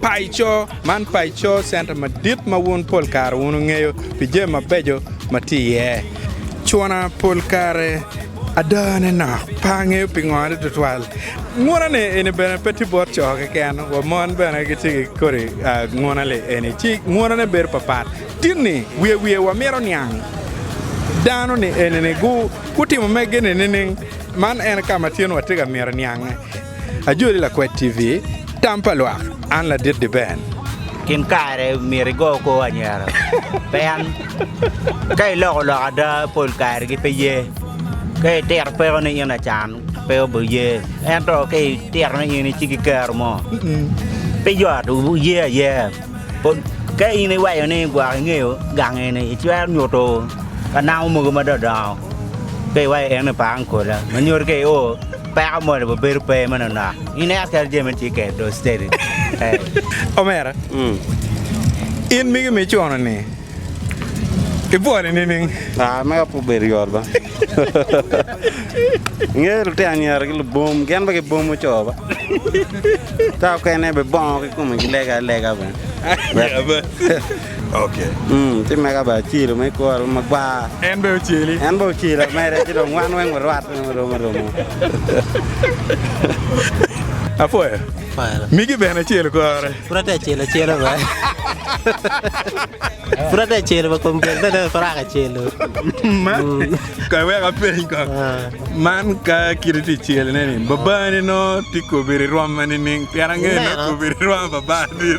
Paco, Man paco center madit ma wun pol kare wunu ngeyo pi jami mabeco ma tye iye. Cwona pol kare ada ne nok pe angeyo pingo ni tutwal nguna ni eni bene pe tye bot coo keken wa mon bene gitye ki kodi nguna li eni ci nguna ne bedo papat tin ni wiye wiye wa mito niang dano ni eni ni gu gutimo mege ni nining man en kama tin wa tye ka mito niange Ajoli Lakwet TV, Tam pa lwak, An ladit di Ben. Gin kare myero igo kor anyira pien ka iloko lok ada pol kare gi pe ye. Ka itito peko ni in acan pe obi ye ento ka itito ni in ici ki kero mo pe yot wuye ayea. Ka in iwaco ni gwok ingeyo gang eni icwero nyuto ka namo mogo ma dongo dongo ka iwaco en ni pa angola ma nyuto ka i o Peko moni bo bedo pe meno nok. In eka kel jami meno ci kel do steady. Eh. Omera. In migi mi icono ni ibwole nining? Ah, mega pe obedo yot ba. Inge lutino anyira ki lubum, gin pe gibum oco ba. Ka okene be bongo ki kome gilega alega bene. Aya bas. Ci mega bene ocelo me kworwu magwar. En bene oceli. En bene ocelo mere, ci dong wan weng warwat mere muromo aromo. Apwoyo. Apwoyo. Migi bene ocelo kore. Pud atye acelo acela bene. Pud atye acelo bene kom kel bene pe raka celo. Kong iwek apeny kong. Man ka kit itye cel ne ni babani nongo tye kobiri rwom ma nining? Pien angeyo nongo kobiri rwom babani.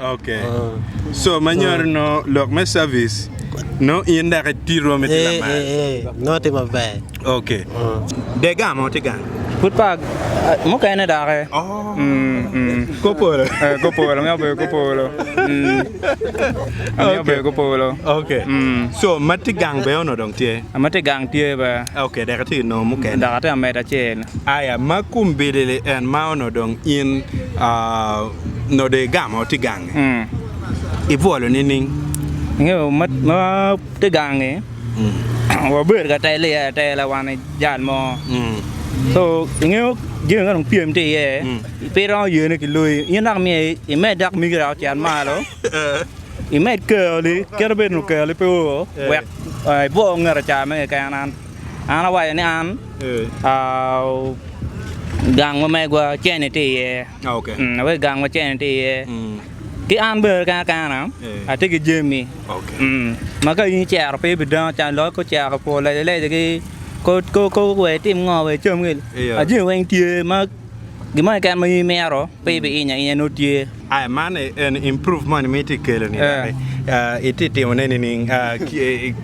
Ok so ma nyuto no lok me service no in dok iti rwom iti lamal. Ee ee ee no ti maber. Ok de ga mo ti gang. Pud pa mukene doki. Kor polo. Kor polo amyero bedo kor polo. Amyero bedo kor polo. Ok so ma ti gang bene onongo dong tye. Ma ti gang tye bene. Ok dok iti nongo mukene. Dok ati amedo acel. Aya ma kum bilili en ma onongo dong in aa. node igamo tye gange ibwolo nining? Ingeyo ma tye gange wabedo ka telo iye atela wan ki jal mo so ingeyo jami ma dong pyem tye iye pe iromo yene ki loyi in dok myero imed dok migi dok ocit malo imed keyoli kit ma obedo ni okeyoli pe o wek ibwo ngete ca me keken an awaco ni an gang ma megwa cene tye iye. wek gang wacen-ni tye iye. Ki an bene kena kena atye ki jami ma ka in icero pe ibidango can dok ka ocero pwo lejaleja ki kobo wa itim ngo wa icam gin ma jami weng tye ma gin moni keken ma in imito pe ibiiny ainya nongo tye. Aya man eni improve moni ma itye ka keloni dok itye ka timone nining?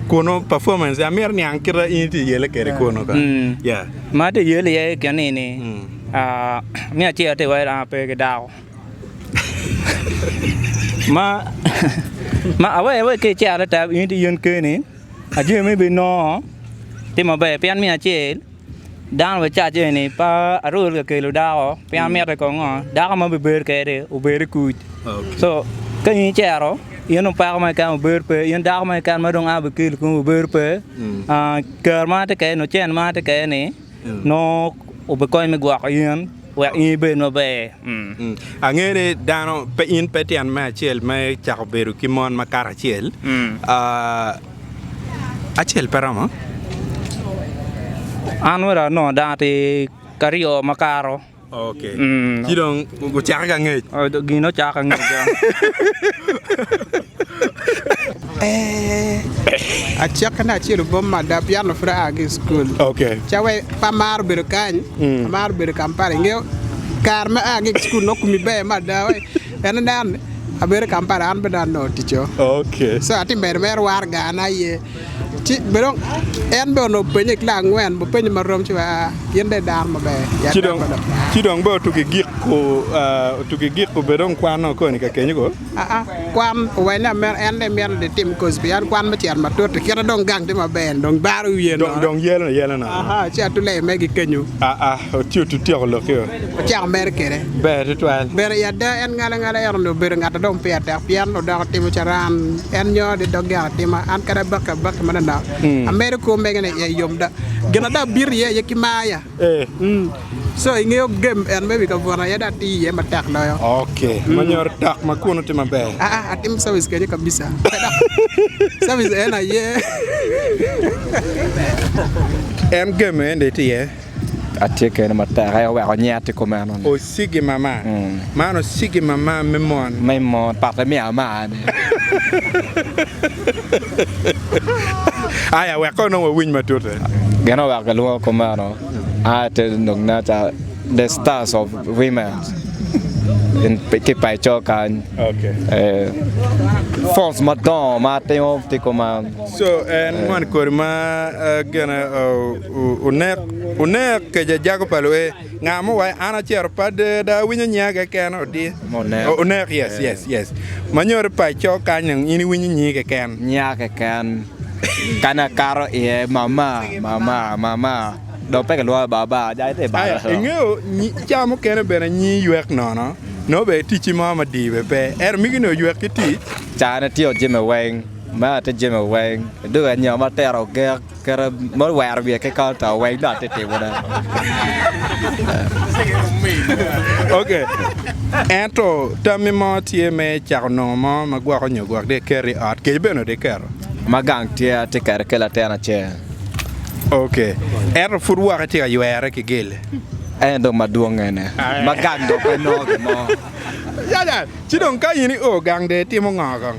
Kunu performance amito niang kita in itye ka yele kwede kunu kong. Ma atye ka yele iye keni ni. Me acel atye ka waci dano pe ki dako ma awero iwaci ka icer adada in aye in keni ajoni ma ibinongo tye maber pien me acel dano wa cawa cawa eni pe aruru ka kelo dako pien mitte kono ngo dako ma bibedo kwede obedo i kuc co ka in icero in dong peko mo keken mabedo pe in dako mo keken ma dong a bikelo i kome mabedo pe ker ma atye kwede ni ocen ma atye kwede ni nongo obikonyi me gwoko in wek in ibed maber. Angeyo ni dano pe in pe tyen me acel me cako bedo ki mon ma kato acel. Ah, acel pe romo. An wera nongo dano atir ki aryo makato. Ci dong gucake ka ngec. Gin ocako ka ngec dong. Acokke na acel obom mada pien pe aa ki i cukul. Ca wai pe amaro bedo kany, amaro bedo Kampala. Ingeyo kare ma aa ki i cukul nongo kumi ber mada wai. Pien inen abedo Kampala an bene anongo ticco. So atye ka mito mere Waragana aye. En bene onongo openye ki langa angwen, ma openyo ma rom ci wa, In dong idano maber, yat dako dok daa. Ci dong bene otuki giko, otuki giko bene dong kwan o koni ka kenyo koo? Aa, kwan owenyo ameno, en dong imito ni itim kozi pien kwan me cito matut i kite dong gang tye maber-ni dong baro wiye nono. Dong yelone yelone nono. Aa, ci atu lei megi kenyo. Aa, ci otutyeko lokio. ocako mere kwede. Ber tutwal. Ber i ada en ngala ngala ento ni obedo ngat adong peya tek pien odoko timo caran en nyo ni dog gin atima an kadi abaki abaki manonok hmm. amedo kwo mege ni iye yom da gin ada abito iye iye ki maya eh. hmm. so ingeyo gem en me wi kabwona iye da ati iye matek loyo ok hmm. manyor tok ma kunu ti maber aa ah, ah, atim service kenyo kabisa service en aye en gem ende ti iye Atye kene matek aye oweko nyiya tye kumeno ni. Ocigi mama. Man ocigi mama me mon. Me mon, pat emiyo amane. Aya wek kono wawiny matute. Gin oweko kilwongo kumeno aya te lok na ca the stars of women ki pa ico kany. Okay. Falls madongo ma atimo tye kuman. So en moni kodi ma gene Onek, onek, keja jago pa luee. Nga mo wae an acero pade da awinyo nyiya keken odi. Onek. Onek yes yes yes. Manyori pa ico kany dong in iwinyo nyi keken. Nyiya keken. Kani akato iye mama mama mama dong pe kilwonga baba ja ite balo. Aya ingeyo ca mukene bene nyi ywek nono nongo bene ticci mo madii bene pe ento migi ni oywek ki tic. Cane tye ojime weng. Mea tye jime weng. Idwogo anyoma tera ogek. Kara ma wero wiye ki kal to weng do ati timo ne. Ok. Ento tammi mo tye me cako nongo mo ma gwoko nyo gwok di ker i ot kec bene di keto. Ma gang tye ati kere ki latin acel. Ok. Ento pud woko itye ka ywere ki gele. En dong ma dwong ene. Ma gang dong pe nongo gin mo. Ci dong ka in i o gang de itimo ngo kong?